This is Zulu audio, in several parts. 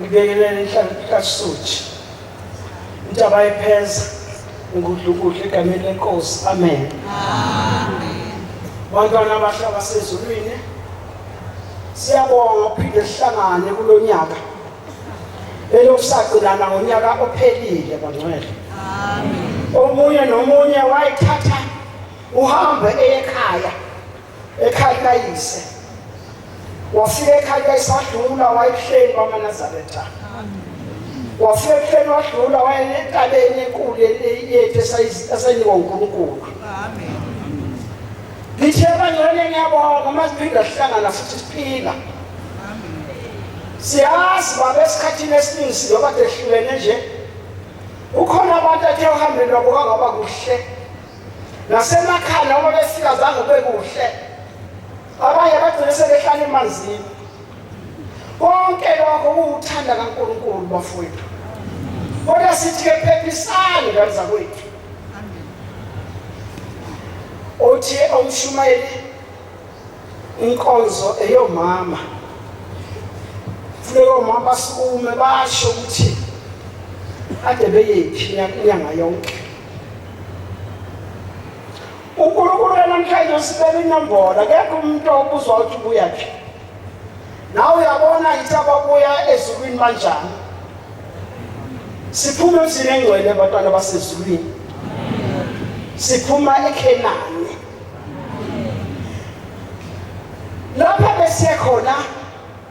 Ngibingelele inhlango kaSuthu. Intaba yepheza ngudlukudla egameni lenkosi. Amen. Amen. Bantwana abahle abasezulwini siyabonga uphinde sihlangane kulonyaka. Elokusagcinana ngonyaka ophelile bangcwele. Amen. Omunye nomunye wayithatha uhambe ekhaya. ekhaya likayise wafika ekhaya likayise wadlula wayebuhleni kwamanazaretha wafika ebuhleni wadlula wayenentabeni enkulu yethu esayinikwa unkulunkulu ngithe bangcane ngiyabonga uma siphinde sihlangana futhi siphila siyazi babe esikhathini esiningi siyoba tehlulene nje ukhona abantu athe uhambeni lwabo kangaba kuhle nasemakhaya noma befika zange kube kuhle abanye bagcine sebehlala emanzini konke lokho kuwuthanda kaNkulunkulu bafowethu kodwa sithi ke phephisani ngane zakwethu othi omshumayeli inkonzo eyomama funeka omama basukume basho ukuthi ade beyephi inyanga yonke unkulunkulu namhlanje usibeka inombolo akekho umuntu obuzwa ukuthi ubuya phi nawe uyabona yithi ababuya ezulwini banjani siphuma emzini engcwele abantwana basezulwini siphuma ekhenani lapha besiye khona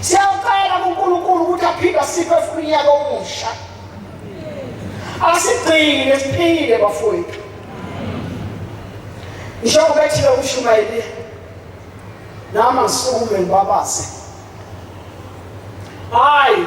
Siyacela kuNkulunkulu ukuthi aphinde asiphe futhi unyaka omusha. Asigcine siphile bafowethu. Njengoba ethile umshumayeli nami ngisukume ngibabaze. Hayi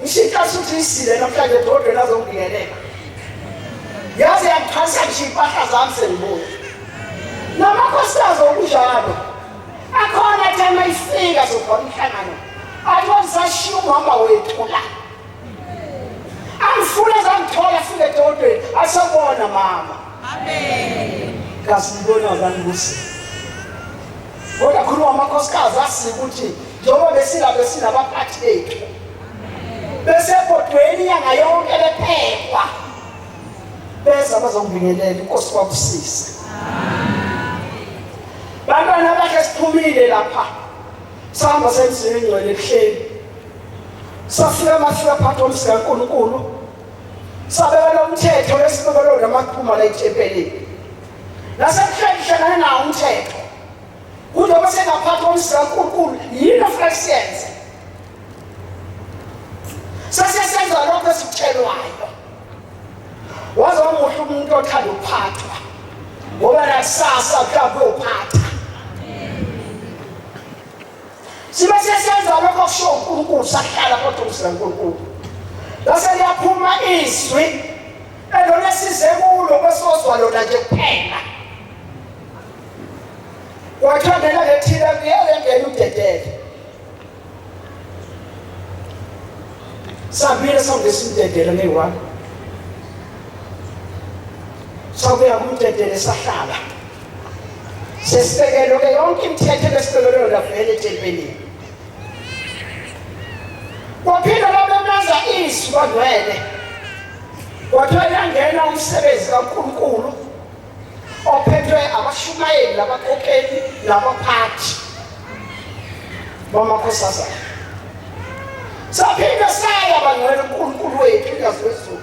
Ngishintsha suthi isile namhlanje dodwe lazongingenela. Yaze yangiphanisa ngisho impahla zami sengibuya. Namakhosikazi okunjalo. Akhona athi uma ifika sokhona umhlangano. Athi wazisashiya umama wethu la. Angifuna zangithola fike dodweni asabona mama. Amen. Kasibona abantu kusi. Kodwa khuluma amakhosikazi asi ukuthi njengoba besila besinabaphathi bethu besebhodweni inyanga yonke bephekwa beza bazongibingelela inkosi kwakusisa bantwana bakhe siphumile lapha sihamba semzini engcwele ebuhleni safika mafika phakathi komzila kankulunkulu sabeka lomthetho lesibekelo namaphuma la ethempelini nasebuhleni hlangane nawo umthetho kude kwasengaphathi komsiza uNkulunkulu yini ofuna siyenze sesiyasenza lokho esikutshelwayo waze wamuhle umuntu othanda ukuphathwa ngoba nakusasa mhlawumbe uyophatha sibe sesenza lokho kusho uNkulunkulu sahlala kodwa umsila uNkulunkulu lase liyaphuma izwi elona size kulo kwesozwa lona nje kuphela wathandela lethile kuyele ngene udedele sabile sawulesimdedele neyi-one sakuya kumdedele sahlala Sesibekelwe ke yonke imithetho ebesibekelwe yona vele etempelini. Kwaphinde babemeza izwi kwangcwele. Kwathiwa yangena umsebenzi kaNkulunkulu ophethwe abashumayeli labakhokheli labaphathi bamakhosazana. Saphinde saya bangcwele uNkulunkulu wethu ingazi wezulu.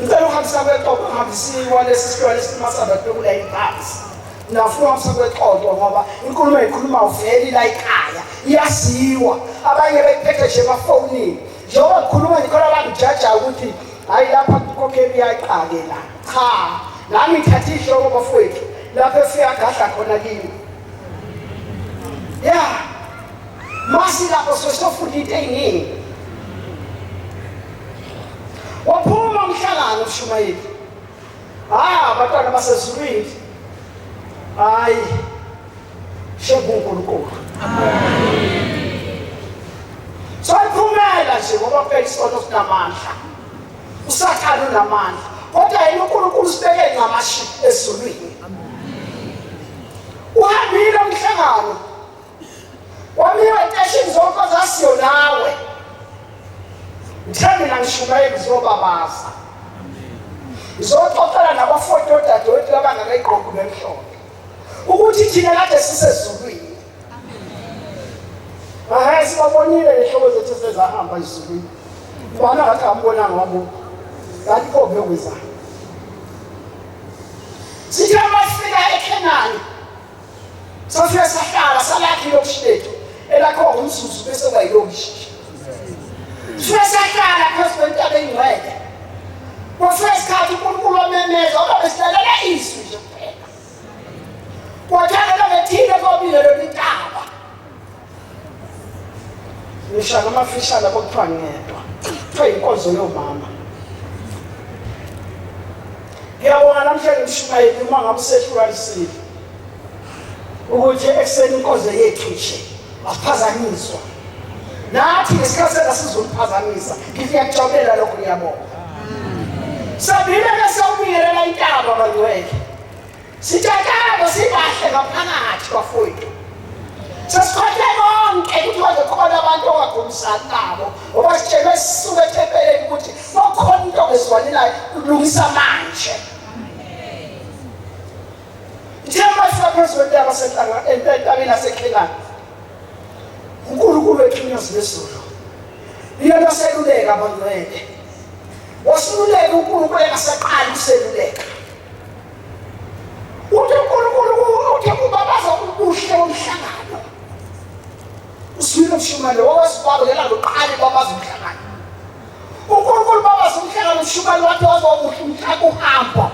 ngicela ukuhambisa kwexoxo ngihambisiwa lesi sihlwa lesimasaba tokula ibhasi nafuna uhambisa kwexoxo ngoba inkulumo eyikhuluma uveli la ikhaya iyaziwa abanye beyiphethe nje emafonini njengoba ngikhuluma ngikhona abangijajayo ukuthi hhayi lapha kukokheli iyayiqake la cha nami ngithathe ihloko bafowethu lapho efiyagadla khona kimi ya masi lapho sesofunda into ey'ningi waphuma umhlangano ushumayeli hhayi ah, abantwana basezulwini hhayi shengunkulunkulu soyiphumela nje ngoba phela isono sinamandla usathane unamandla kodwa yena unkulunkulu usibeke ncamashi ezulwini uhambile umhlangano wamiwa eteshini zonke zasiyo nawe ngithe mina ngishumayeli ngizobabaza ngizoxoxela nabafoti odadewethu abangakayigqoki bemhlophe ukuthi thina kade sisezulwini Hayi sibabonile nehlobo zethu sezahamba izulu. Bana ngathi ambonanga wabo. Ngathi pho kuyokuza. Sithe masifika eKhenani. Sofika sahlala salakhi lokushilethu. Elakho umsusu bese bayilokishi. Sifika sahlala phezu kwentaba engcwele. Kwafika isikhathi uNkulunkulu wamemeza, waba besilalela izwi nje. Kwathakela ngethile kwabile leli taba. Ngisha ngamafishana kokuthiwa ngedwa. Kuthiwa inkonzo yomama. Ngiyabonga namhlanje umshumayeli uma ngamusehlukanisile ukuthi ekuseni inkonzo yethu nje asiphazanyiswa nathi ngesikhathi sasizomphazamisa ngithi ngiyakujabulela lokho ngiyabonga sabile ke sawubingelela intaba bangcwele Sitshakabo sibahle ngaphakathi bafowethu. Sesikhothe konke ukuthi bazokhona abantu ongagumisani nabo ngoba sitshelwe sisuke ethempeleni ukuthi bakhona into ongezwani nayo kulungisa manje. Njengoba sisaphezu kwentaba senhlanga entabeni yaseKhelani. uNkulunkulu wethu inyosi yezulu iyona oseluleka abangcwele wasiluleka uNkulunkulu engasaqali useluleka Uthi uNkulunkulu uthe kubabaza ubuhle bomhlangano. Usibile umshumane wawesibaba yena loqala babaza umhlangano. uNkulunkulu babaza umhlangano umshumane wathi wazobuhle umhlangano uhamba.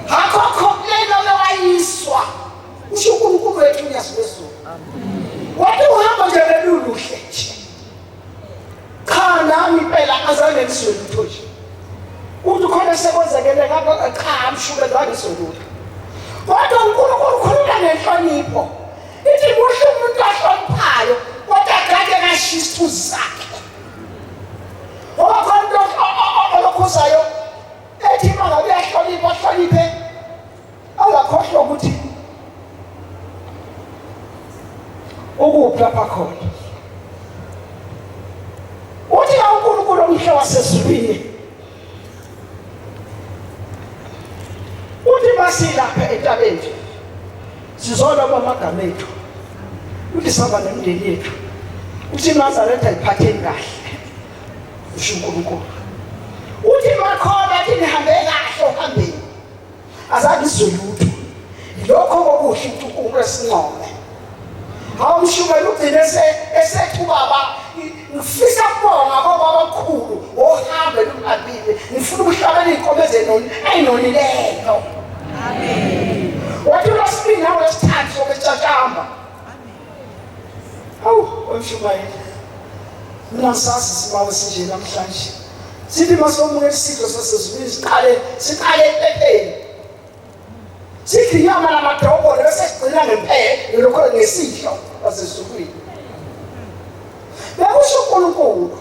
Hakho khoklela lewayiswa. Usho uNkulunkulu wethu uyazi wezulu. Wathi uhamba nje leluluhle nje. cha nami impela azange ngizwe lutho nje ukuthi khona sekwenzekele ngakho cha amshuke zange soluka kodwa unkulunkulu ukhuluma ngenhlonipho ithi kuhle umuntu ahloniphayo kodwa agade kashiya isithuzi sakhe ngoba khona umuntu olokhuzayo ethi mangabe uyahlonipha ahloniphe Angakhohlwa ukuthi ukuphi lapha khona. Uthi la uNkulunkulu omhle wasezulwini. Uthi masilapha entabeni sizona kwamagama ethu. Uthi saba nemndeni yethu. Uthi Nazareth ayiphatheni kahle. Usho uNkulunkulu. Uthi makhona athi nihambe kahle ohambeni. azange izwe lutho lokho kokuhle uNkulunkulu esincome hawu mshumayeli ugcine esethi ubaba ngifisa kubonga baba abakhulu ohambe lungabile ngifuna ukuhlabela iy'nkomo ezenoni eyinonileyo amen wathi lwesibili nawo lesithathu sobe Awu, wemshumayeli. Mina ngisazi isibawo sinje namhlanje. Sithi masomuka isidlo sasezulwini siqale siqale ephepheni. Sithi inyama namadobo bese sigcina ngempela lokho ngesidlo sasezulwini. Bekusho uNkulunkulu.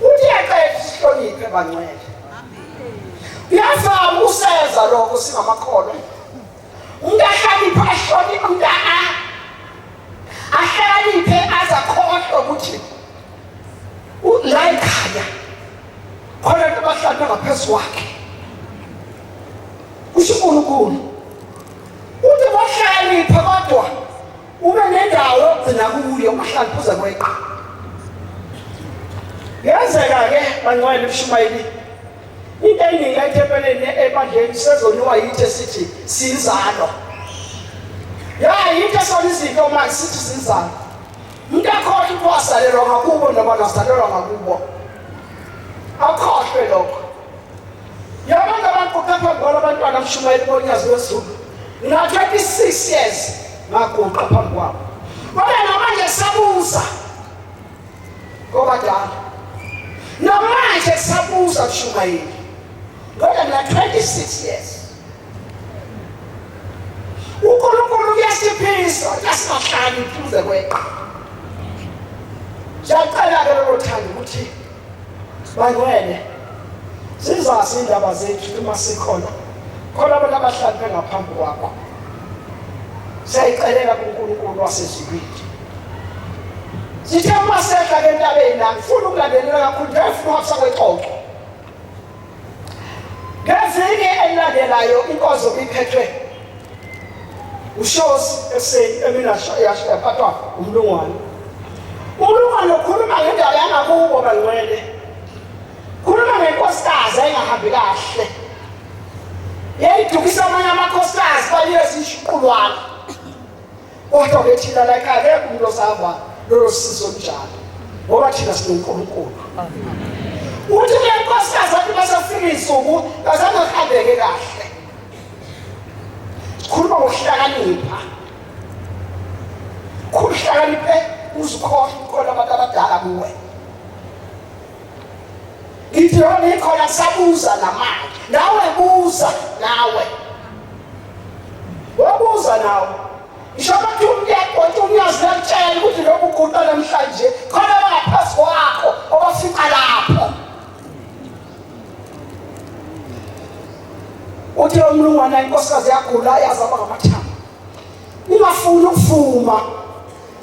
Uthi yaqeda isihloniphe bangcwele. Uyazama ukuseza lokho singamakholwa. Ungahlakaniphi ashone umntana ahlakaniphe aza khohlwa ukuthi la ekhaya khona abantu abahlanu ngaphezu kwakhe kusho uNkulunkulu uthi wahlakanipha kodwa ube nendawo yokugcina kuyo uhlakanipha uze kweqa yenzeka-ke bancwayela ebushumayelini Into eningi la ethempeleni ebandleni sezoniwa yithi esithi sinzalo. Ya yinto esona izinto manje sithi sinzalo. Umuntu akhohlwa ukuthi wasalelwa ngakubo noma nasalelwa ngakubo. Akhohlwe lokho. Yabona abantu kepha ngoba abantwana abashumayeli bonyazi wezulu. Ngina 26 years ngaguqa phambi kwabo. Kodwa namanje sabuza kobadala namanje kusabuza kushumayeli kodwa mina 26 years unkulunkulu kuyasiphilisa kuyasibahlani kuze kweqa siyacela-ke lolo thanda ukuthi bangwene zizazi indaba zethu uma sikhona khona abantu abahlali bengaphambi kwakho siyayicelela kunkulunkulu wasezulwini Sithe uma sehla ke entabeni la ngifuna ukulandelela kakhulu njengoba ngifuna uhafisa kwexoxo. Ngeviki elilandelayo inkozo iphethwe ushosi ekuseni emina yaphathwa umlungwane. Umlungwane ukhuluma ngendaba yangakubo bangcwele. Khuluma ngenkosikazi engahambi kahle. Yayidukisa amanye amakhosikazi baliyezishuqulwana. kodwa ke thina like akekho umuntu osava lolo sizo olunjalo ngoba thina sinonkulunkulu uthi le nkosikazi athi basafika iy'nsuku bazange kuhambeke kahle sikhuluma ngokuhlakanipha khuluhlakaniphe uzikhohle ukukhola abantu abadala kuwe Ngithi yo ngikhona ngisabuza namanje. Nawe buza nawe. Wobuza nawe. Ngisho bathi umyekho uthi umyazi nakutshela ukuthi lokhu kuqala namhlanje khona bangaphansi kwakho obafica lapho. Uthi lo mlungwana inkosikazi yagula yazaba ngamathambo. Ningafuni ukuvuma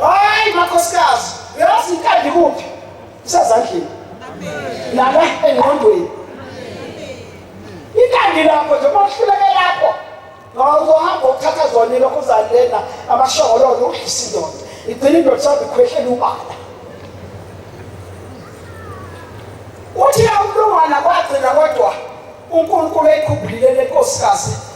Hayi makhosikazi, uyazi inkandi kuphi? Isezandleni. Lala engqondweni. Inkandi lapho nje kwahluleke lapho. Ngawuzohamba ukuthatha zona lokho uzalena amashongololo udlisa indoda. Igcina indoda sabe khwehlela ubala. Uthi awulungana kwagcina kodwa uNkulunkulu eyikhubhulile lenkosikazi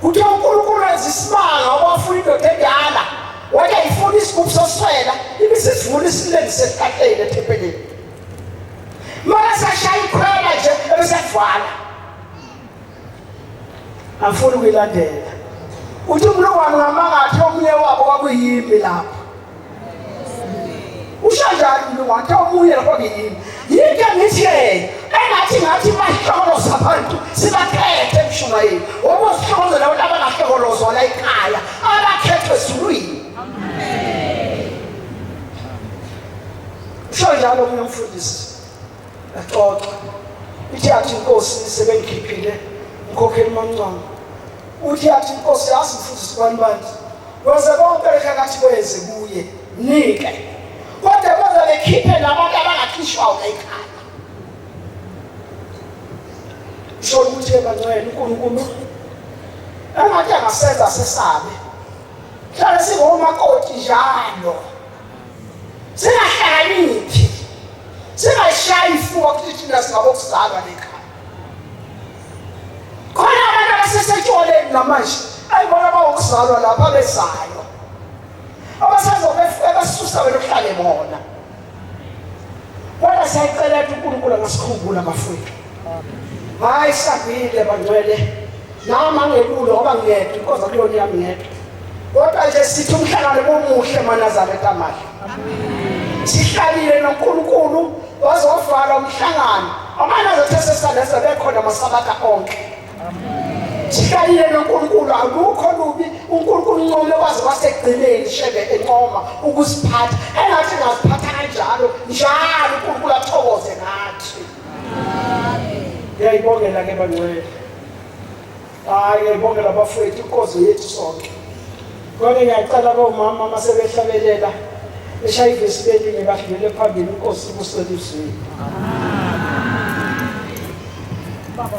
Kuthiwa uNkulunkulu wenza isimanga wabafuna indoda endala wathi ayifuni isigubhu soswela ibe sesivuna isilengise esihlahleni ethempelini mara sashaya ikhwela nje ebesevala angifuni ukuyilandela uthi umlungwane ungamangathi omunye wabo kwakuyimi lapho usho njalo mina wathi omunye lapho ngiyini yike ngithi-ke engathi ngathi bahlokoloza abantu sibakhethe emshumayeli ngoba uzihlokoloza abantu abangahlokolozwa la ekhaya abakhethwe ezulwini usho njalo omunye umfundisi yaxoxa ithi yathi inkosi sebengikhiphile umkhokheli mamncwango uthi yathi inkosi yazi mfundisi kwani bantu Koze konke phakathi kwezi kuye nike. Kodwa koze bekhiphe nabantu abangakhishwa ekhaya. Isho ukuthi ebangcwele uNkulunkulu engathi angasenza sesabe. Hlale singomakoti njalo. Singahlakaniphi. Singashayi ifuwa kuthi thina singabokuzalwa nekhaya. khona abantu abasesetshwaleni namanje ayibona bawokuzalwa lapha abezalwa abasazobe ebasusa wena uhlale bona kodwa siyayicela ukuthi unkulunkulu angasikhumbula bafowethu hayi sangile bangcwele nami angekulo ngoba ngiyedwa inkosi akuyona yami ngedwa kodwa nje sithi umhlangano bomuhle manazareta amahle sihlalile nonkulunkulu wazovala umhlangano amanazareta sesandesa bekhona amasabatha onke sihlalile nonkulunkulu akukho lubi unkulunkulu ncome kwaze kwasekugcineni shebe encoma ukusiphatha engathi ngaziphatha kanjalo njalo unkulunkulu athokoze ngathi Ngiyayibongela ke bangcwele. Hayi ngiyayibongela bafowethu inkozo yethu sonke. Kodwa ngiyacela komama uma sebehlabelela eshaya ivesi belinye badlulele phambili inkosi ibuswe lizwini. Baba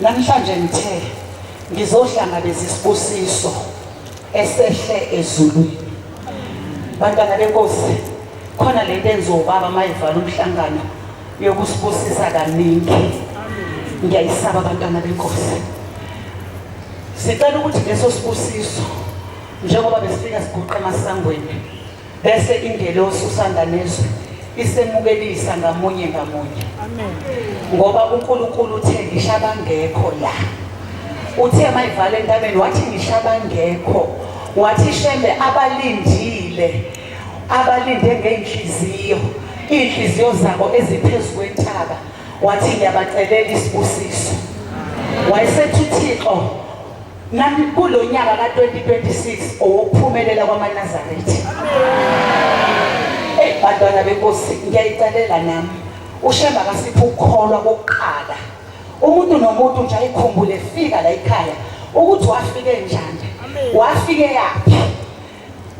Namhlanje ngithe ngizohlangabeza isibusiso esehle ezulwini. Bantwana benkosi, khona lento enziwa ubaba mayivala umhlangano yokusibusisa kaningi. Ngiyayisaba bantwana benkosi. Sicela ukuthi leso sibusiso njengoba besifika siguqe emasangweni Bese ingelosi usanda nezwi isemukelisa ngamunye ngamunye. Amen. Ngoba uNkulunkulu uthe ngisho abangekho la. Uthe mayivale entabeni wathi ngisho abangekho. Wathi shembe abalindile abalinde ngeenhliziyo iy'nhliziyo zabo eziphezu kwentaba wathi ngiyabacelela isibusiso wayesethi uthixo Nami kulo nyaka ka-2026 owokuphumelela kwamaNazaretha. Eyi bantwana benkosi ngiyayicelela nami ushemba kasiphe ukukholwa kokuqala umuntu nomuntu nje ayikhumbule fika la yikhaya ukuthi wafike njani wafike yaphi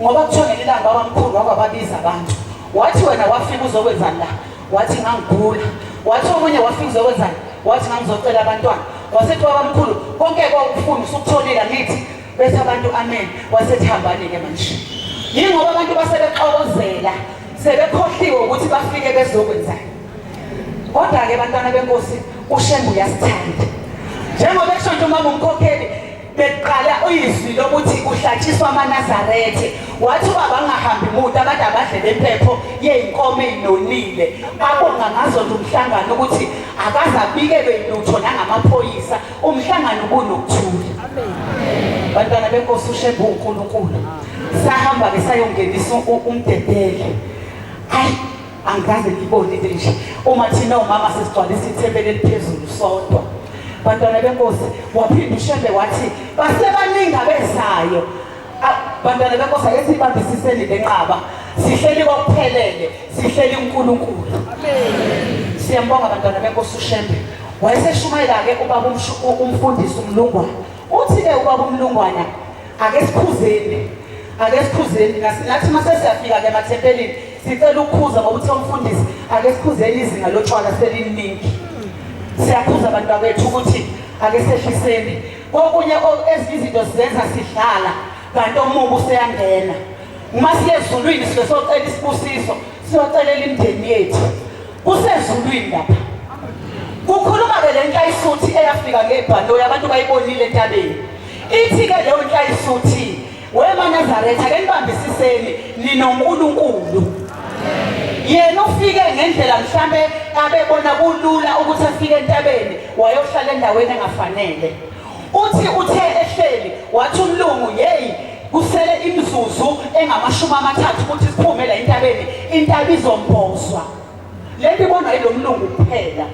ngoba kuthiwa ngelilanga babamkhulu wabababiza abantu wathi wena wafika uzokwenzani la wathi ngangigula wathi omunye wafika uzokwenzani wathi ngangizocela abantwana wasethi babamkhulu konke kwakufuna usukutholile angithi bethi abantu amen wasethi hambani-ke manje yingoba abantu basebexokozela sebekhohliwe ukuthi bafike bezokwenzani kodwa-ke bantwana benkosi ushembe uyasithanda njengoba kusho nje uma ngumkhokheli bekuqala uyizwi lokuthi kuhlatshiswa amanazarethe wathi uba bangahambi muta abantu abadle bempepho yey'nkomo ey'nonile abonga ngazonda umhlangano ukuthi akaze abikelwe lutho nangamaphoyisa umhlangano ubunokuthula bantwana benkosi ushembe uwunkulunkulu sahamba-ke sayongenisa umdedele ayi angikaze ngibone into enje uma thina umama sesigcwalisa ithempeli eliphezulu sodwa bantwana benkosi waphinde ushembe wathi basebaningi abezayo bantwana benkosi ake sibambisiseni lenqaba sihleli kokuphelele sihleli uNkulunkulu amen siyambonga bantwana benkosi ushembe wayeseshumayela-ke ubaba umfundisi umlungwana uthi-ke ubaba umlungwana ake sikhuzeni ake sikhuzeni nathi uma sesiyafika-ke emathempelini Sicela ukukhuza ngokuthe umfundisi ake sikhuzeni izinga lotshwala seliningi. Siyakhuza abantu bakwethu ukuthi ake sehliseni. Kokunye ezinye izinto sizenza sidlala kanti omubi useyangena. Uma siye ezulwini sibe socela isibusiso, siyocelela imindeni yethu. Kusezulwini lapha. Kukhuluma-ke le nhlayisuthi eyafika ngebhanoyi abantu bayibonile entabeni. Ithi-ke leyo nhlayisuthi Wema Nazaretha ke nibambisiseni ninoNkulunkulu. Yena ufike ngendlela mhlambe abebona kulula ukuthi afike entabeni wayohlala endaweni engafanele. Uthi uthe ehleli wathi umlungu yeyi kusele imizuzu engamashumi amathathu ukuthi siphume la entabeni intaba izombozwa. Le nto ibonwa yilo mlungu kuphela.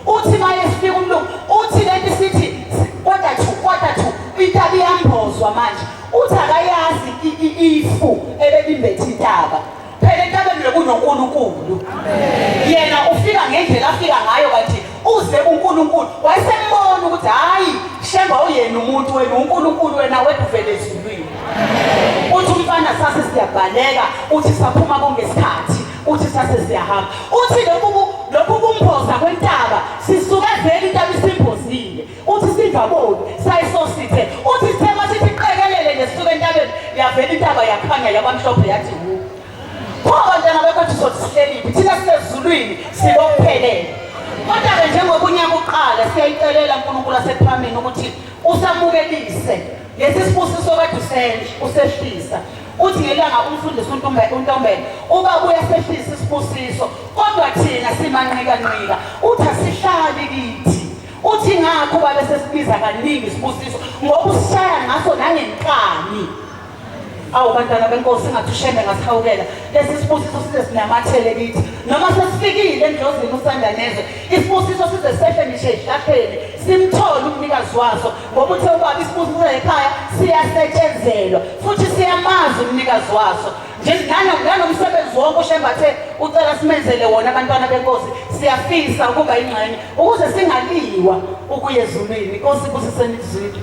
Uthi maye sifika umlungu uthi lento isithi quarter to quarter to intaba iyambozwa manje uthi akayazi ifu ebelimbethe intaba phela entabeni lokunonkulunkulu yena ufika ngendlela afika ngayo kanti uze kunkulunkulu wayesembona ukuthi hhayi shemba uyena umuntu wena unkulunkulu wena weduvele ezulwini uthi umfana sase siyabhaleka uthi saphuma kongesikhathi uthi sase siyahamba uthi lokhu lokhu kumphosa kwentaba sisuka vele intaba isimbozile uthi singaboni sayisosithe uthi sithe masithi qekelele nesuka entabeni yavela intaba yakhanya yabamhlophe yathi wu pho bantwana bekwethu sothi sihleliphi thina sisezulwini sikokuphelele kodwa-ke njengoba unyaka uqala siyayicelela nkulunkulu asephambini ukuthi usamukelise Lesi sibusiso kade usenje usehlisa uthi ngelanga umfundisi untombela untombela uba uyasehlisa isibusiso kodwa thina simanqika nqika uthi asihlali kithi uthi ngakho babe sesibiza kaningi isibusiso ngoba usishaya ngaso nangenkani awu bantwana benkosi ngathi ushembe ngasihawukela lesi sibusiso size sinamathele kithi noma sesifikile endlozini usanda nezwe isibusiso size sehle ngishe ehlahleni simthole umnikazi waso ngoba uthe ubaba isibusiso ekhaya siyasetshenzelwa futhi siyamazi umnikazi waso nanomsebenzi wonke ushembathe ucela simenzele wona abantwana benkosi siyafisa ukuba ingxenye ukuze singaliwa ukuya ezulwini inkosi ibusiseni izwini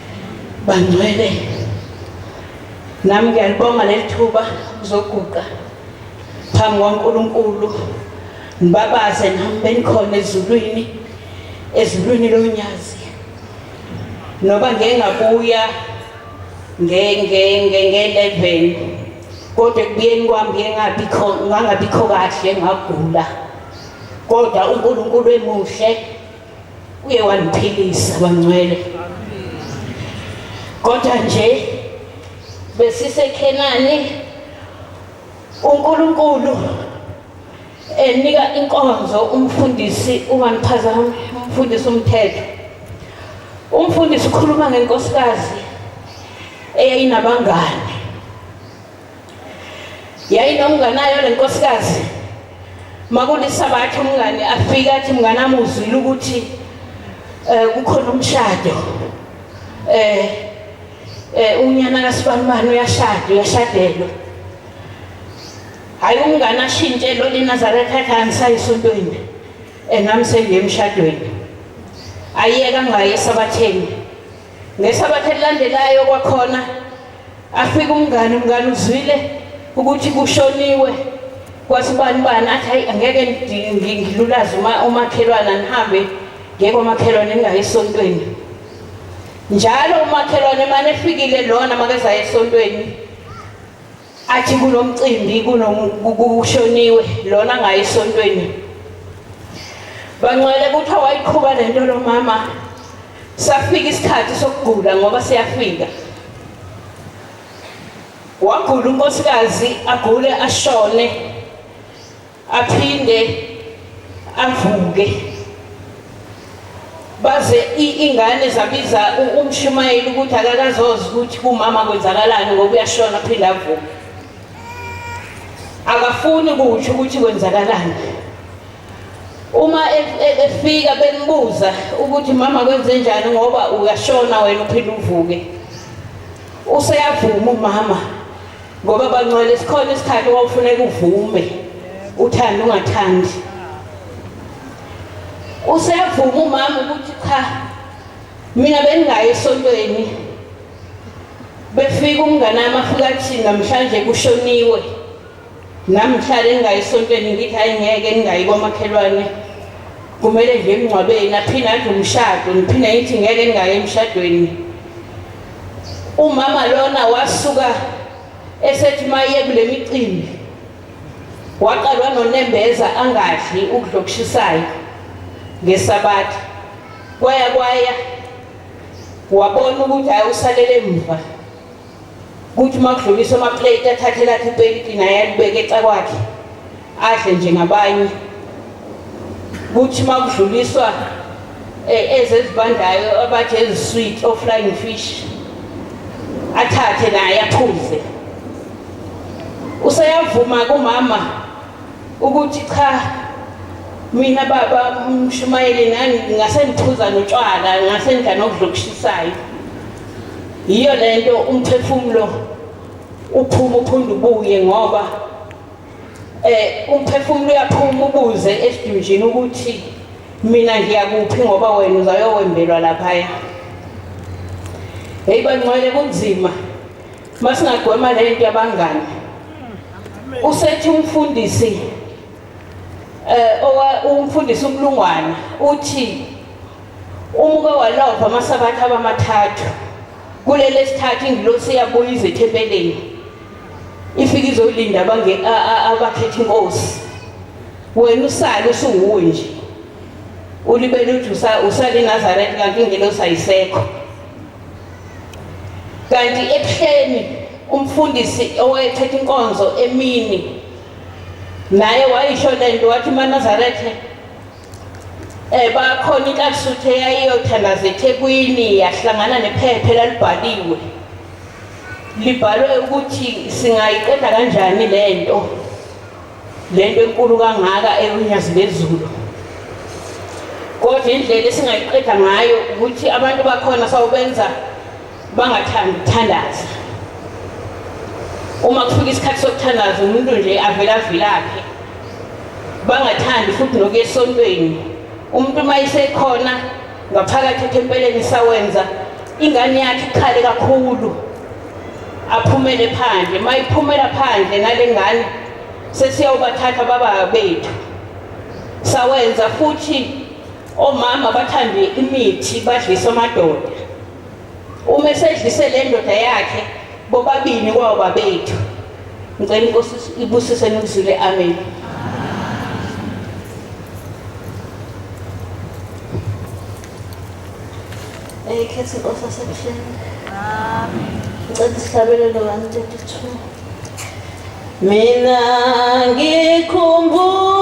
Bangcwele, nami ngiyalibonga leli thuba ukuzoguqa phambi kwaNkulunkulu ngibabaze nami benikhona ezulwini ezulwini lonyazi noba ngeke ngabuya nge-eleven kodwa ekubuyeni kwami ngeke ngabikho ngangabikho kahle ngagula kodwa uNkulunkulu emuhle uye wandiphilisa wangcwele kodwa nje besisekhenani uNkulunkulu enika inkonzo umfundisi ubangiphazama umfundisi umthetho umfundisi ukhuluma ngenkosikazi eyayinabangani yayinomnganayo le nkosikazi makulisabatha umngani afike athi mnganami uzwile ukuthi um kukhona umshado um um unyana kasibanibani uyashada uyashadelwa hhayi umngane ashintshe lo linazaretha ekhaya ngisayisontweni um nami sengiye emshadweni ayiyeka ngaye esabatheni Ngesabatha elilandelayo kwakhona afika umngani umngani uzwile ukuthi kushoniwe kwasibani bani athi hayi angeke ngidlulaze uma umakhelwana nihambe ngeke umakhelwane ningayi esontweni njalo umakhelwane mane efikile lona makezayo esontweni athi kunomcimbi kushoniwe lona ngaye esontweni bangcwele kuthiwa wayiqhuba le nto lo mama safika isikhathi sokugula ngoba siyafika wagula unkosikazi agule ashone aphinde avuke baze ingane zabiza umshumayeli ukuthi akakazozi ukuthi kumama kwenzakalani ngoba uyashona aphinde avuke akafuni kutsho ukuthi kwenzakalani uma e, e, efika benibuza ukuthi mama kwenze njani ngoba uyashona wena uphinde uvuke useyavuma umama ngoba bangcwele sikhona isikhathi wawufuneka uvume uthanda ungathandi useyavuma umama ukuthi cha mina bengingayi esontweni befika umngane wami afika athi namhlanje kushoniwe nami ngihlale ngingayi esontweni ngithi hayi ngeke ningayi kwamakhelwane kumele nje emngcwabeni aphinde adle umshado ngiphinde ngithi ngeke ningayi emshadweni Umama lona wasuka esethi maye kule micimbi waqalwa nonembeza angadli ukudla okushisayo ngesabatha kwaya kwaya wabona ukuthi hayi usalele emuva kuthi uma kudlulisa amaplate athathe lakhe ipenti naye alibeke ecakwakhe adle njengabanye kuthi uma kudluliswa e, ezezibandayo abathi ezisweet offlying fish athathe naye aphuze useyavuma kumama ukuthi cha mina baba umshumayeli nani ngase ngiphuza notshwala ngase ngidla nokudlokushisayo yiyo lento umphefumulo uphuma uphundubuye ngoba Eh umphefumulo uyaphuma ubuze esidunjini ukuthi mina ngiyakuphi ngoba wena uzayowembelwa laphaya. Hey bangcwele kunzima. Masingagwema lento yabangani. Usethi umfundisi eh owa umfundisi umlungwana uthi umuke walova amasabatha abamathathu kulele sithathu ingilosi yabuya izethempeleni ifike izolinda abange abakhetha inkosi wena usale usuwuwe nje ulibele uthi usale eNazareth kanti ingelosi ayisekho kanti ebuhleni umfundisi owayethetha inkonzo emini naye wayisho lento wathi maNazaretha Eh bakhona inkasuthu eyayiyothanaza eThekwini yahlangana nephepha elalibhaliwe. Libhalwe ukuthi singayiqeda kanjani lento. Lento enkulu kangaka ekunyazi lezulu. Kodwa indlela esingayiqeda ngayo ukuthi abantu bakhona sawubenza bangathandi ukuthandaza uma kufika isikhathi sokuthandaza umuntu nje avele avilaphe bangathandi futhi nokuya esontweni umuntu uma isekhona ngaphakathi ethempeleni isawenza ingane yakhe ikhale kakhulu aphumele phandle uma iphumela phandle nale ngane sesiyawubathatha baba bethu sawenza futhi omama bathande imithi badlisa amadoda uma esedlise le ndoda yakhe bobabini kwawo babethu ngicela inkosi ibusise nikuzwile amen ekhethi inkosi asebuhleni ngicela isihlabelelo 132 mina ngikhumbula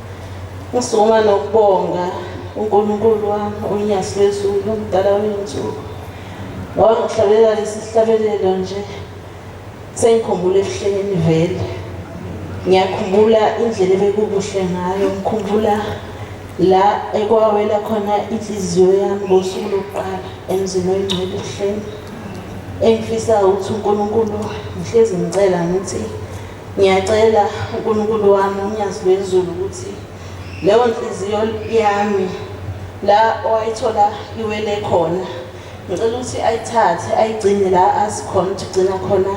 Ngisukuma nokubonga uNkulunkulu wami uNyasi lwezulu umdala wensuku wangihlabelela lesihlabelelo nje sengikhumbula ebuhleleni vele ngiyakhumbula indlela ebekukuhle ngayo ngikhumbula la ekwawela khona inhliziyo yami ngosuku lokuqala emzini oyingcwele ebuhleni engifisa ukuthi uNkulunkulu ngihlezi ngicela ngithi Ngiyacela uNkulunkulu wami uNyazi lwezulu ukuthi leyo nhliziyo yami la owayithola iwele khona ngicela ukuthi ayithathe ayigcine la asikhona ukuthi gcina khona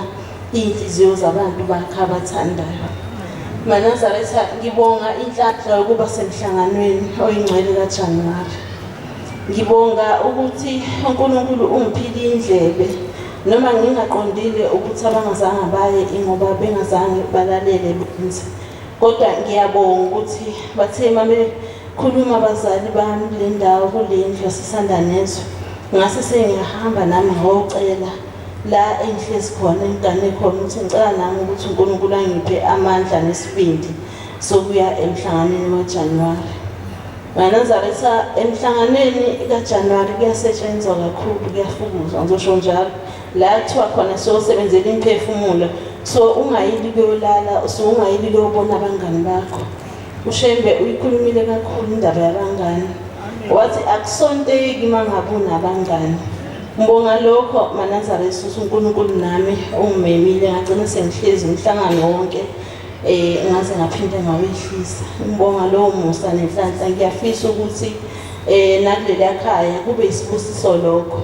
iy'nhliziyo zabantu bakhe abathandayo manazaretha ngibonga inhlanhla yokuba semhlanganweni oyingcwele kajanuwari ngibonga ukuthi unkulunkulu ungiphile indlebe noma ngingaqondile ukuthi abangazange baye ingoba bengazange balalele benze kodwa ngiyabonga ukuthi bathe uma bekhuluma abazali bami le ndawo kule ndlu yasisanda nezwe ngase sengiyahamba nami ngiyocela la engihlezi khona engigane khona ukuthi ngicela nami ukuthi unkulunkulu angiphe amandla nesibindi sokuya emhlanganweni waJanuwari. Nganazaretha emhlanganweni kaJanuwari kuyasetshenzwa kakhulu, kuyafukuzwa ngizosho njalo. La kuthiwa khona siyosebenzela imphefumulo, so ungayili kuyolala, so ungayili kuyobona abangani bakho. UShembe uyikhulumile kakhulu indaba yabangani. Wathi akusonteki uma ngabe unabangani. Ngibonga lokho Manazareth uNkulunkulu nami ungimemile ngagcina sengihlezi umhlangano wonke. Eh ngaze ngaphinde ngawehlisa umbonga lowo musa nenhlanhla ngiyafisa ukuthi eh nakuleli yakhaya kube isibusiso lokho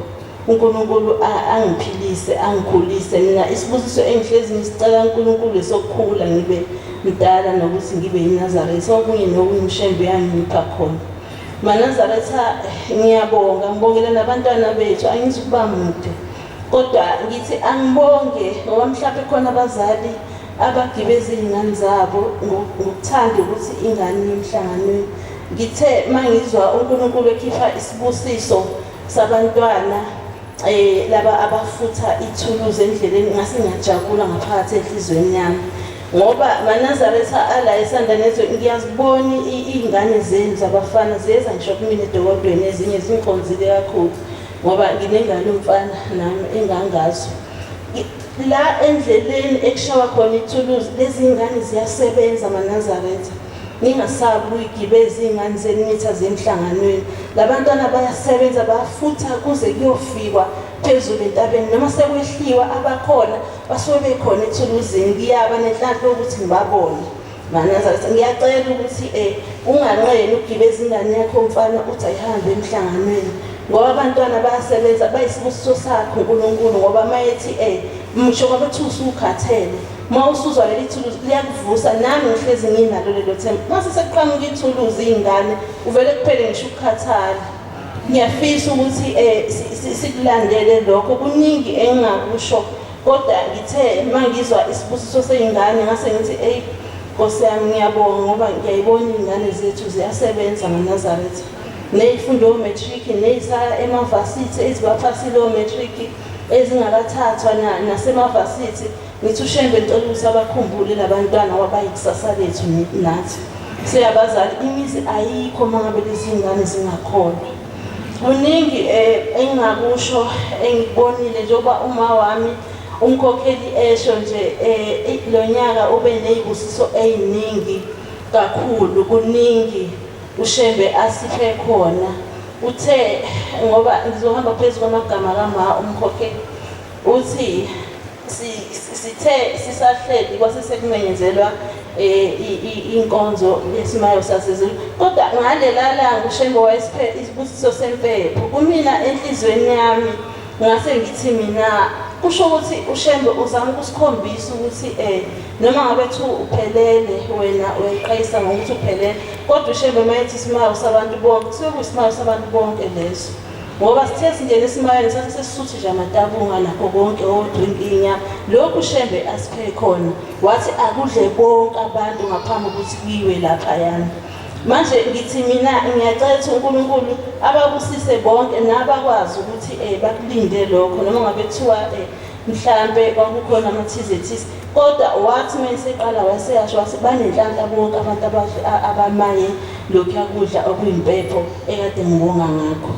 uNkulunkulu angiphilise angikhulise mina isibusiso engihlezi ngisicela uNkulunkulu sokukhula ngibe mdala nokuthi ngibe yiNazaretha okunye nokunyimshembe yangipha khona Manazaretha ngiyabonga ngibongela nabantwana bethu angizukuba mude Kodwa ngithi angibonge ngoba mhlawumbe khona abazali abagibeza iy'ngane zabo ngokuthanda ukuthi ingane emhlanganweni ngithe uma ngizwa unkulunkulu ekhipha isibusiso sabantwana eh laba abafutha ithuluzi endleleni ngase ngajabula ngaphakathi enhlizweni yami ngoba manazaretha ala esanda nezwe ngiyaziboni iy'ngane zenu zabafana ziyeza ngisho kumina edokodweni ezinye zingikhonzile kakhulu ngoba nginengane umfana nami engangazo la endleleni ekushawa khona ithuluzi lezi ngane ziyasebenza manazaretha ningasabi ukuyigibeza iy'ngane zenu nitha zemhlanganweni labantwana bayasebenza bafutha kuze kuyofikwa phezulu entabeni noma sekwehliwa abakhona basuke bekhona ethuluzini ngiyaba nenhlanhla yokuthi ngibabone Maneza ukuthi ngiyacela ukuthi eh unganqeni ukugibeza ingane yakho mfana uthi ayihambe emhlanganweni ngoba abantwana bayasebenza bayisibusiso sakho uNkulunkulu ngoba mayethi eh msho ngoba uthi usukhathele uma usuzwa leli thuluzi liyakuvusa nami ngihlezi nginalo lelo themba mase sekuqhamuka ithuluzi ingane uvele kuphele ngisho ukukhathala ngiyafisa ukuthi eh sikulandele lokho kuningi engingakusho Kodwa ngithe mangizwa isibusiso seyingane ngase ngithi eyi Nkosi yami ngiyabonga ngoba ngiyayibona iy'ngane zethu ziyasebenza ngoNazaretha ney'funda o-matric ney'saya emavasithi ezibaphasile o-matric ezingakathathwa nasemavasithi ngithi ushembe ngicela ukuthi abakhumbule labantwana wabayikusasa lethu nathi seyabazali imizi ayikho uma ngabe lezi ngane zingakholwa Kuningi eh, engingakusho engikubonile njengoba uma wami umkhokheli esho nje eh, lo nyaka ube ney'busiso ey'ningi kakhulu kuningi ushembe asiphe khona uthe ngoba ngizohamba phezu kwamagama kama umkhokheli uthi Sithe sisahleli kwase sekumenyezelwa eh, inkonzo yesimayo sasezulu kodwa ngalela langa uShembe wayesiphe isibusiso sempepho kumina enhlizweni yami ngase ngithi mina kusho ukuthi uShembe uzama ukusikhombisa ukuthi eh noma ngabe thu uphelele wena uyayiqayisa ngokuthi uphelele kodwa uShembe mayethi isimayo sabantu bonke kusuke kusimayo sabantu bonke leso ngoba sithe singena esimayeni sathi sesisuthi nje amatabunga nakho konke odrinkinya lokhu shembe asiphe khona wathi akudle bonke abantu ngaphambi ukuthi kuyiwe laphayana manje ngithi mina ngiyacela ukuthi unkulunkulu ababusise bonke nabakwazi ukuthi um bakulinde lokho noma ngabe kuthiwa um mhlampe kwakukhona amathize thize kodwa wathi uma eseqala waseyasho wathi banenhlanhla bonke abantu abahle abamaye lokhuya kudla okuyimpepho ekade ngibonga ngakho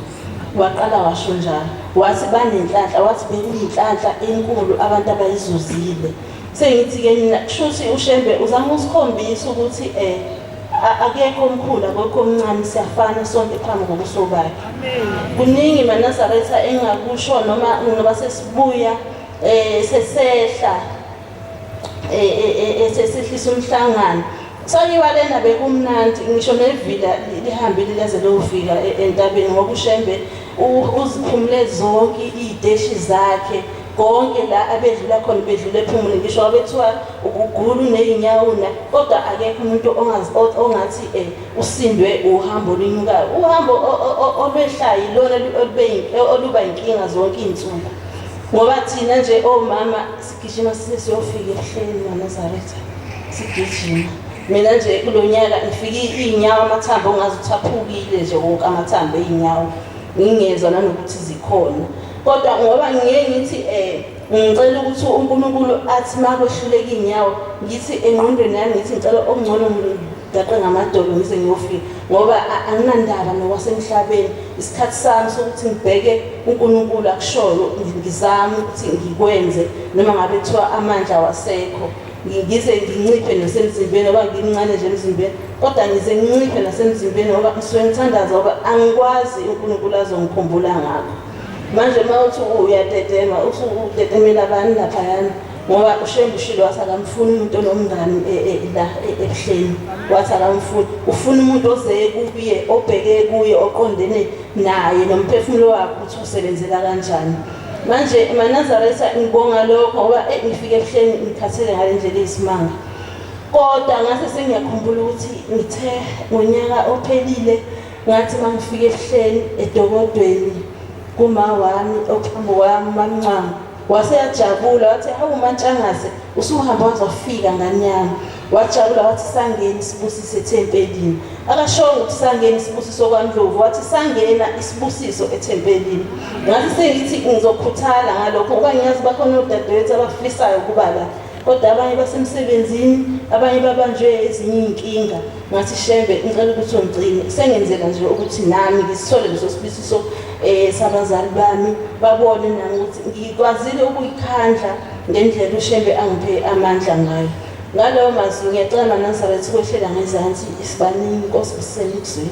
waqala washo njalo wathi banenhlanhla wathi bekuyinhlanhla enkulu abantu abayizuzile sengithi-ke mina kusho ukuthi ushembe uzama usikhombisa ukuthi um akekho omkhulu akekho omncane siyafana sonke phambi kobuso bakhe kuningi manazaretha engakusho noma noba sesibuya eh sesehla eh, eh, eh, eh sesehlisa umhlangano sayiwa lena bekumnandi ngisho nevila lihambile leze lofika e, entabeni ngoba ushembe uziphumule zonke izideshi zakhe konke la abedlula khona bedlula ephumule ngisho abethiwa ukugulu nezinyawuna kodwa akekho umuntu ongathi eh usindwe uhambo linyukayo uhambo olwehlayo lona oluba inkinga zonke izinsuku ngoba thina nje omama sigijima siyofika ehleleni lamazaretha sigijima mina nje kulo nyaka ngifike iy'nyawo amathambo ongazi ukuthi aphukile nje wonke amathambo ey'nyawo ngingezwa nanokuthi zikhona kodwa ngoba ngiye ngithi um ngicela ukuthi unkulunkulu athi uma kwehluleka iy'nyawo ngithi engqondweni yami ngithi ngicela okungcono Daqe ngamadolo ngize ngiyofika ngoba anginandaba nokwasemhlabeni isikhathi sami sokuthi ngibheke uNkulunkulu akushoyo ngizame ukuthi ngikwenze noma ngabe kuthiwa amandla wasekho ngize nginciphe nasemzimbeni ngoba ngimncane nje emzimbeni kodwa ngize nginciphe nasemzimbeni ngoba ngisuke ngithandaza ngoba angikwazi uNkulunkulu azongikhumbula ngakho manje uma uthi uyatetema usudetemela abantu laphayana ngoba ushembe ushilo wathi akamfuni umuntu onomngani e, e, la e, ebuhleni wathi akamfuni ufuna umuntu ozeye kuye obheke kuye oqondene naye nomphefumulo wakhe ukuthi usebenzela kanjani manje manazaretha ngibonga lokho ngoba ngifike ebuhleni ngikhathele ngale ndlela iyisimanga kodwa ngase sengiyakhumbula ukuthi ngithe ngonyaka ophelile ngathi uma ngifike ebuhleni edokodweni kuma wami ophambi wami mamncanga Wase yajabula wathi hawu mantshangase usuhamba wazofika ngane yami. Wajabula wathi sangeni sibusiso ethempelini. Akashongo ukuthi sangeni isibusiso kwaNdlovu wathi sangena isibusiso ethempelini. Ngathi sengithi ngizokhuthala ngalokho ngoba ngiyazi bakhona odadewethu abafisayo ukuba la. Kodwa abanye basemsebenzini, abanye babanjwe ezinye iy'nkinga. ngathi shembe ngicela ukuthi ungigcine sengenzeka nje ukuthi nami ngisithole leso sibusiso um eh, sabazali bami babone nami ukuthi ngikwazile ukuyikhandla ngendlela ushembe angiphe amandla ngayo ngalowo mazwi ngiyacela manazaretha ukwehlela ngezansi isibaningi inkosi busisele ikuzwile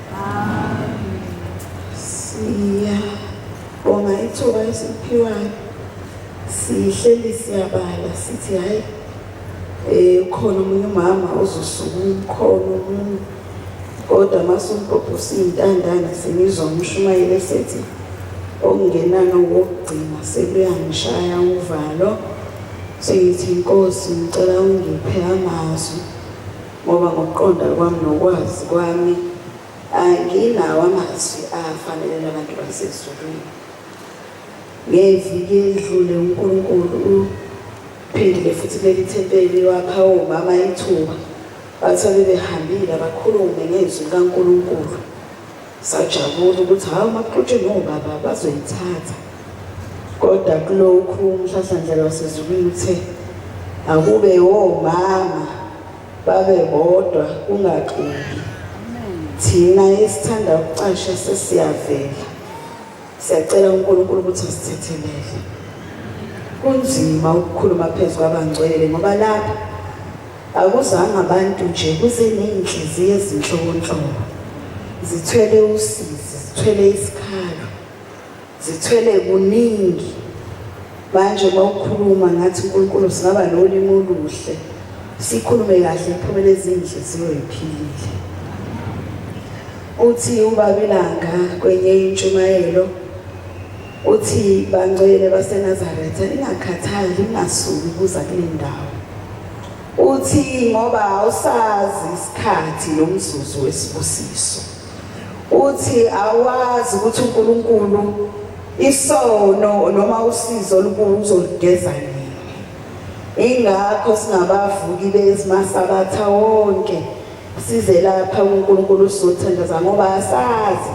Siyabonga ithuba esiphiwayo sihleli siyabala sithi hhayi um ukhona omunye umama ozosuka umkhono omunye kodwa masumbhobhosa iy'ntandane sengizwa umshumayeli esethi okungenani wokugcina sekuyangishaya uvalo sengithi inkosi ngicela ungiphe amazwi Ngoba ngokuqonda kwami nokwazi kwami anginawo amazwi afanele labantu basezulwini. Ngeviki elidlule uNkulunkulu uphindile futhi kuleli thempeli wapha omama ithuba bathi abebehambile abakhulume ngezwi likaNkulunkulu. Sajabula ukuthi hawu makuxutshwe nobaba bazoyithatha. Kodwa kulokhu umhlahlandlela wasezulwini uthe akube womama babe bodwa kungaxubi. Thina esithanda ukucasha sesiyavela. Siyacela uNkulunkulu ukuthi asithethelele. Kunzima ukukhuluma phezu kwabangcwele ngoba lapha akuzange abantu nje kuze ney'nhliziyo ezinhlobonhlobo zithwele usizi zithwele isikhalo zithwele kuningi manje uma ukhuluma ngathi unkulunkulu singaba nolimi oluhle sikhulume kahle iphumele ezinhle ziyoyiphilile Uthi ubaba ilanga kwenye intshumayelo uthi bangcwele baseNazaretha ingakhathali ingasuki kuza kule ndawo. Uthi ngoba awusazi isikhathi nomzuzu wesibusiso. Uthi awazi ukuthi uNkulunkulu isono noma usizo olukuzo lugeza nini. Ingakho singabavuki bezimasabatha wonke Size lapha uNkulunkulu usizothandaza ngoba asazi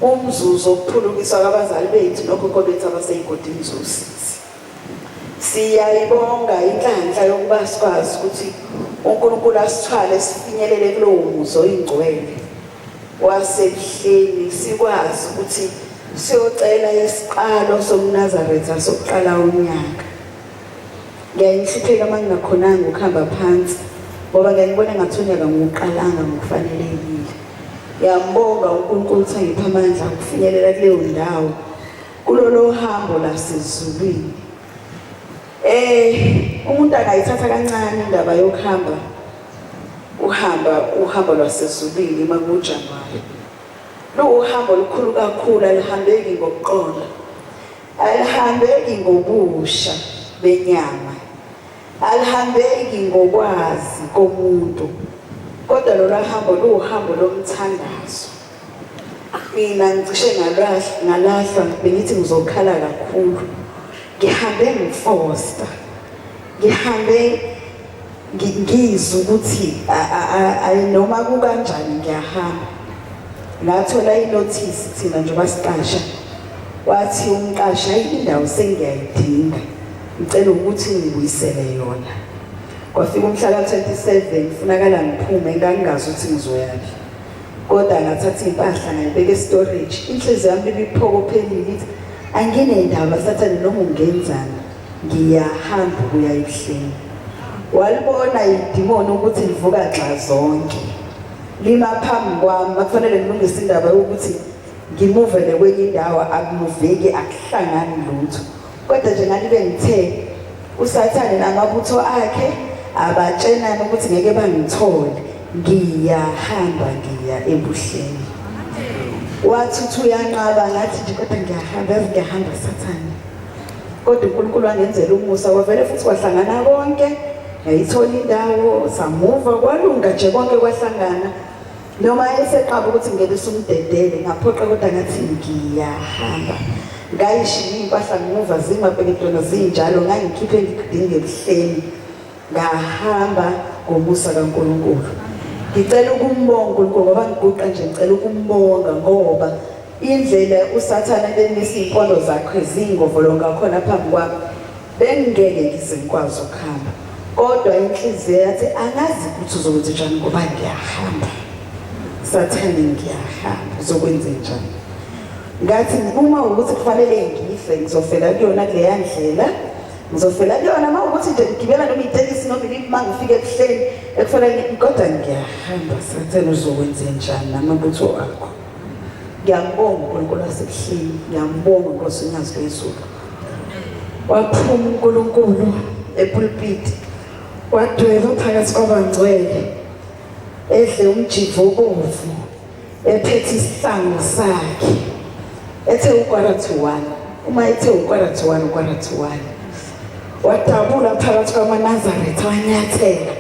umzuzu okuphulukiswa kwabazali bethu nokhokho bethu abaseyigodini zosizi. Siyayibonga inhlanhla yokuba sikwazi ukuthi uNkulunkulu asithwale sifinyelele kulowo muzi oyingcwele wasebuhleni sikwazi ukuthi siyocela isiqalo somnazaretha sokuqala unyaka Ngyaye ngihlupheka uma ngingakhonanga ukuhamba phansi ngoba ngyaye ngibona ngathi unyaka ngiwuqalanga ngokufanelekile. Ngiyambonga uNkulunkulu ukuthi angiphe amandla okufinyelela kuleyo ndawo kulolo hambo lasezulwini. Eh umuntu akayithatha kancane indaba yokuhamba uhamba uhambo lwasezulwini uma kujanuwari. Luwuhambo olukhulu kakhulu alihambeki ngokuqonda. Alihambeki ngobusha benyama, alihambeki ngokwazi komuntu, kodwa lolu hambo luwuhambo lomthandazo. Mina ngicishe ngalahlwa bengithi ngizokhala kakhulu, ngihambe ngifosta. ngihambe ngizwe ukuthi noma kukanjani ngiyahamba ngathola inothisi thina nje basiqasha wathi umqashi hayi indawo sengiyayidinga ngicela ukuthi ngibuyisele yona kwafika umhla ka-27 funakala ngiphume ngangingazi ukuthi ngizoyaphi kodwa ngathatha iy'mpahla ngayibeka estorage inhliziyo yami ibiphokophelile ithi anginendaba sathane noma ungenzani ngiyahamba ukuya ebuhleni walibona idimoni ukuthi livuka nxazonke lima phambi kwami makufanele ngilungise indaba yokuthi ngimuvele kwenye indawo akumuveki akuhlangani lutho kodwa nje ngalibe ngithe usathane namabutho akhe abatshenana ukuthi ngeke bangithole ngiyahamba ngiya ebuhleni wathi uthi uyanqaba ngathi nje kodwa ngiyahamba yazi ngiyahamba sathane kodwa uNkulunkulu wangenzela umusa wavele futhi kwahlangana konke ngayithola indawo samuva kwalunga nje konke kwahlangana noma eseqaba ukuthi ngeke sumdedele ngaphoqa kodwa ngathi ngiyahamba ngayishiya impahla ngimuva zingabheketona zinjalo ngangikhiphe ngidinge ebuhleni ngahamba ngomusa kaNkulunkulu ngicela ukumbonga uNkulunkulu ngoba ngiguqa nje ngicela ukumbonga ngoba Indlela uSathane bemisa iy'mpondo zakhe ziyingovolo ngakhona phambi kwami, bengingeke ngize ngikwazi ukuhamba. Kodwa inhliziyo yathi angazi ukuthi uzokwenze njani ngoba ngiyahamba. Sathane ngiyahamba, uzokwenze njani? Ngathi uma ukuthi kufanele ngife, ngizofela kuyona kuleya ndlela. Ngizofela kuyona uma ukuthi nje ngigibela noma itekisi noma iliphi uma ngifike ebuhleni ekufanele kodwa ngiyahamba. Sathane uzokwenze njani namabutho akho? ngiyambonga uNkulunkulu wasebuhleni ngiyambonga Nkosi unyazi lwezulu waphuma uNkulunkulu epulpiti wadweba phakathi kwabangcwele edle umjivo obomvu ephethe isihlangu sakhe ethe ukwara to one uma ethe ukwara to one ukwara to one wadabula phakathi kwamanazaretha wanyathela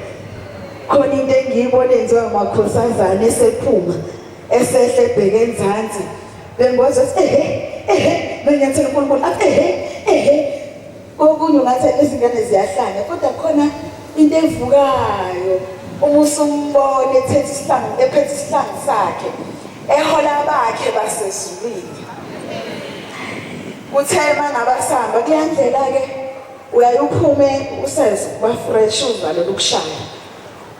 khona into engiyibona enziwa amakhosazane esephuma Esehle ebheke enzansi bemboza ehe ehe nonyathela uNkulunkulu athi ehe ehe kokunye ngathi izingane ziyahlanya kodwa khona into evukayo uma usumbona ethethe isihlangu ephethe isihlangu sakhe ehola bakhe basezulwini kuthe mangaba sihamba kuyandlela ke uyaye uphume usenze kuba fresh uvalele ukushaya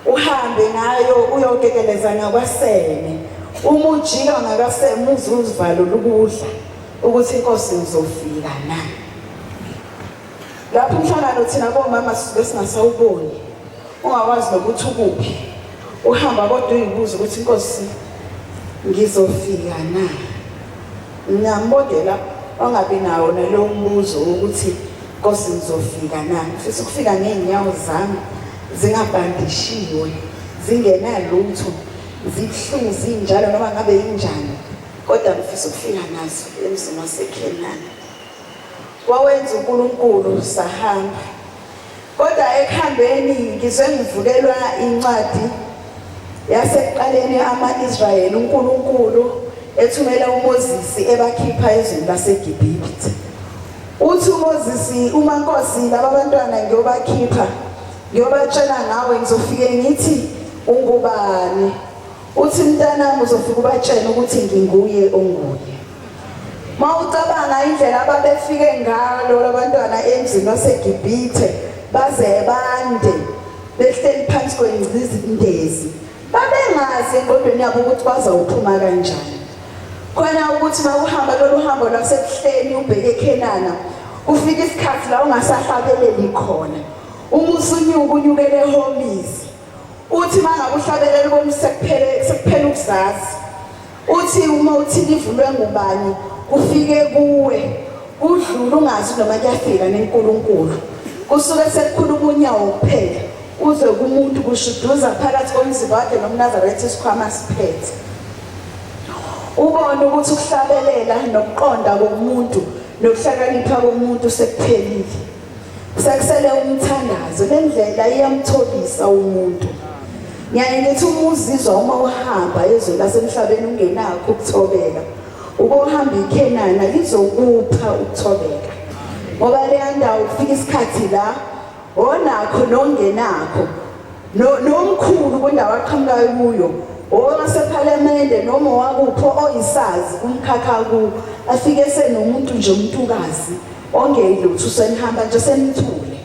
uhambe ngayo uyokekeleza ngakwasene uma ujika ngakaseme uzuzivalo lukudla ukuthi inkosi izofika na lapho umhlangano thina bomama besingasawuboni ungakwazi nokuthi ukuphi uhamba kodwa uyibuza ukuthi inkosi ngizofika na ngiyambodela ongabi nawo nalowo mbuzo wokuthi Nkosi ngizofika na? Ngifisa ukufika ngey'nyawo zami zingabhandishiwe, zingenalutho, zibuhlungu zinjalo noma ngabe yinjani, kodwa ngifisa ukufika nazo emzini waseKhenani. Wawenza uNkulunkulu sahamba. Kodwa ekuhambeni ngizwe ngivukelwa incwadi yasekuqaleni ama-Israyeli uNkulunkulu ethumela uMoses ebakhipha ezweni laseGibhithe. Uthi uMozisi uma Nkosi laba bantwana ngiyobakhipha ngiyobatshela ngawe ngizofike ngithi ungubani uthi mntanami uzofika ubatshena ukuthi nginguye onguye ma ucabanga indlela ababefike ngalo labantwana emzini wasegibhithe baze bande behleli phansi kwengcindezi babengazi engqondweni yabo ukuthi bazawuphuma kanjani khona ukuthi mawuhamba lolu hambo lwasebuhleni ubheke ekhenana ufike isikhathi la ungasahlabeleli khona uma usunyuka unyukele ehomisi uthi mangakuhlabeleli komsekuphele sekuphela ukuzazi Uthi uma uthi livulwe ngubani kufike kuwe kudlula ungazi noma kuyafika nenkulunkulu kusuke sekukhuluma unyawo kuphela uze kumuntu kushuduza phakathi komzimba wakhe nomnazaretha isikhwama siphethe ubone ukuthi ukuhlabelela nokuqonda komuntu nokuhlakanipha komuntu sekuphelile Sekusele umthandazo lendlela iyamtholisa umuntu. Ngiyaye ngithi uma uzizwa uma uhamba ezweni lasemhlabeni ungenakho ukuthobeka. Uke uhamba iKhenana lizokupha ukuthobeka. Ngoba leya ndawo kufika isikhathi la onakho nongenakho nomkhulu kwendawo aqhamukayo kuyo owasephalamende noma owakuphi oyisazi kumkhakha ku afike senomuntu nje umuntukazi Ongei lutho senihamba nje senithule.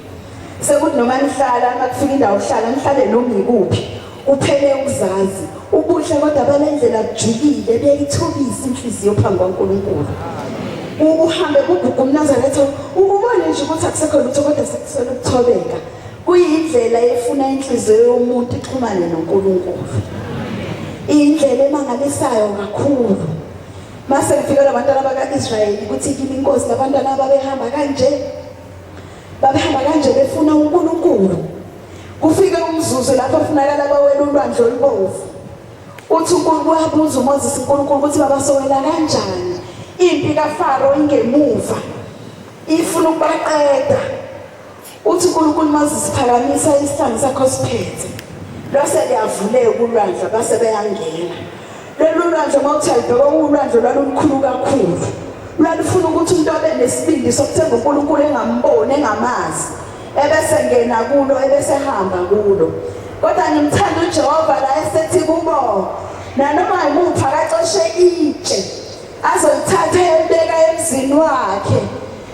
Sekuthi noma nihlala makufika indawo uhlala nihlale noma ikuphi. Uphele ukuzazi. Ubuhle kodwa balendlela kujikile beyithobisa inhliziyo phambi kwaNkulunkulu. Uhambe kugugu umnazaretha ukubona nje ukuthi akusekho lutho kodwa sekusela ukuthobeka. Kuyindlela efuna inhliziyo yomuntu ixhumane noNkulunkulu. Indlela emangalisayo kakhulu. Mase kufika labantwana baka-Israyeli kuthi kimi inkosi labantwana babehamba kanje babehamba kanje befuna uNkulunkulu kufike umzuzu lapho kufunakala bawela ulwandle olubomvu uthi uNkulunkulu wabuza uMoses uNkulunkulu ukuthi babasowela kanjani impi kaFaro ingemuva ifuna ukubaqeda Uthi uNkulunkulu mazisiphakamisa isihlangu sakho siphethe lwase liyavuleka ulwandle base beyangena lolu lwandle uma uthi alibheka uwulwandle lwalulukhulu kakhulu lwalufuna ukuthi umuntu abe nesibindi sokuthemba uNkulunkulu engamboni engamazi ebese ngena kulo ebese hamba kulo kodwa ngimthanda uJehova la esethi kubo nanoma yimuphi akaxoshe itshe azokuthatha eyembeka emzini wakhe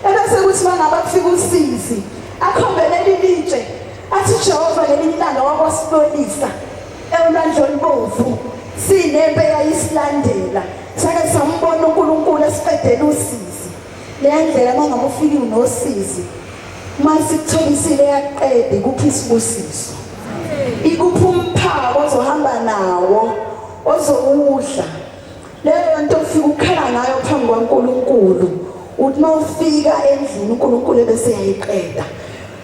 ebese kuthi uma ngabe kufika usizi akhombe leli litshe athi jehova ngelinye ilanga wakwasibonisa ewulandla olubomvu sinempe yayisilandela sake sambona unkulunkulu esiqedela usizi leya ndlela uma ngabe ufike unosizi uma sikutholisile yaqede ikuphi isibusiso ikuphi umphako ozohamba nawo ozowudla leyo nto ufika ukukhala ngayo phambi kwaNkulunkulu uthi uma ufika endlini uNkulunkulu ebese yayiqeda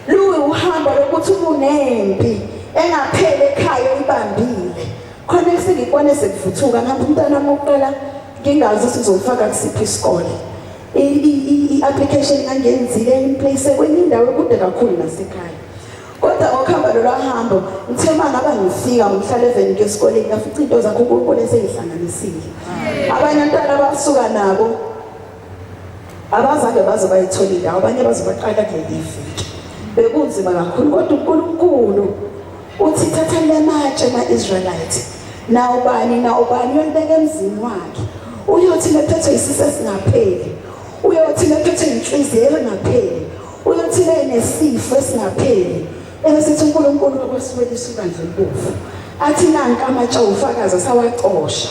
luyi uhambo lokuthi ubunempi engapheli ekhaya uyibambile khona efika ikwane sekuvuthuka ngapha umntana wokuqala ngingazi ukuthi uzofaka kusiphi isikole i-application ngangenzile implace kwenye indawo ekude kakhulu nasekhaya kodwa ngokuhamba lolwa hambo ngithe uma ngaba ngifika ngihlale evenike esikoleni ngafica into zakho unkulunkulu eseyihlanganisile abanye abantwana abasuka nabo abazange baze bayithole indawo abanye baze baqala kuleli viki bekunzima kakhulu kodwa unkulunkulu uthi thatha le matshe ma-israyelite nawubani nawubani uyolibeka emzini wakhe uyothi lephethwe yisisi esingapheli uyothi lephethwe yinhliziyo engapheli Uyothile nesifo esingapheli ebesithi uNkulunkulu wakwasibelisa ibandla elibovu. Athi nanka amatshe ofakazi asawacosha.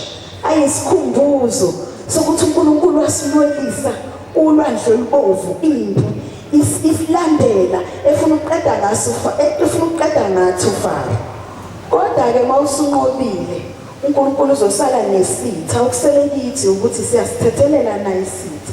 Ayisikhumbuzo sokuthi uNkulunkulu wasilwelisa ulwandle olubovu impi isilandela efuna ukuqeda ngaso efuna ukuqeda ngathi ufaro. Kodwa ke mawusunqobile uNkulunkulu uzosala nesitha okusele kithi ukuthi siyasithethelela na isitha.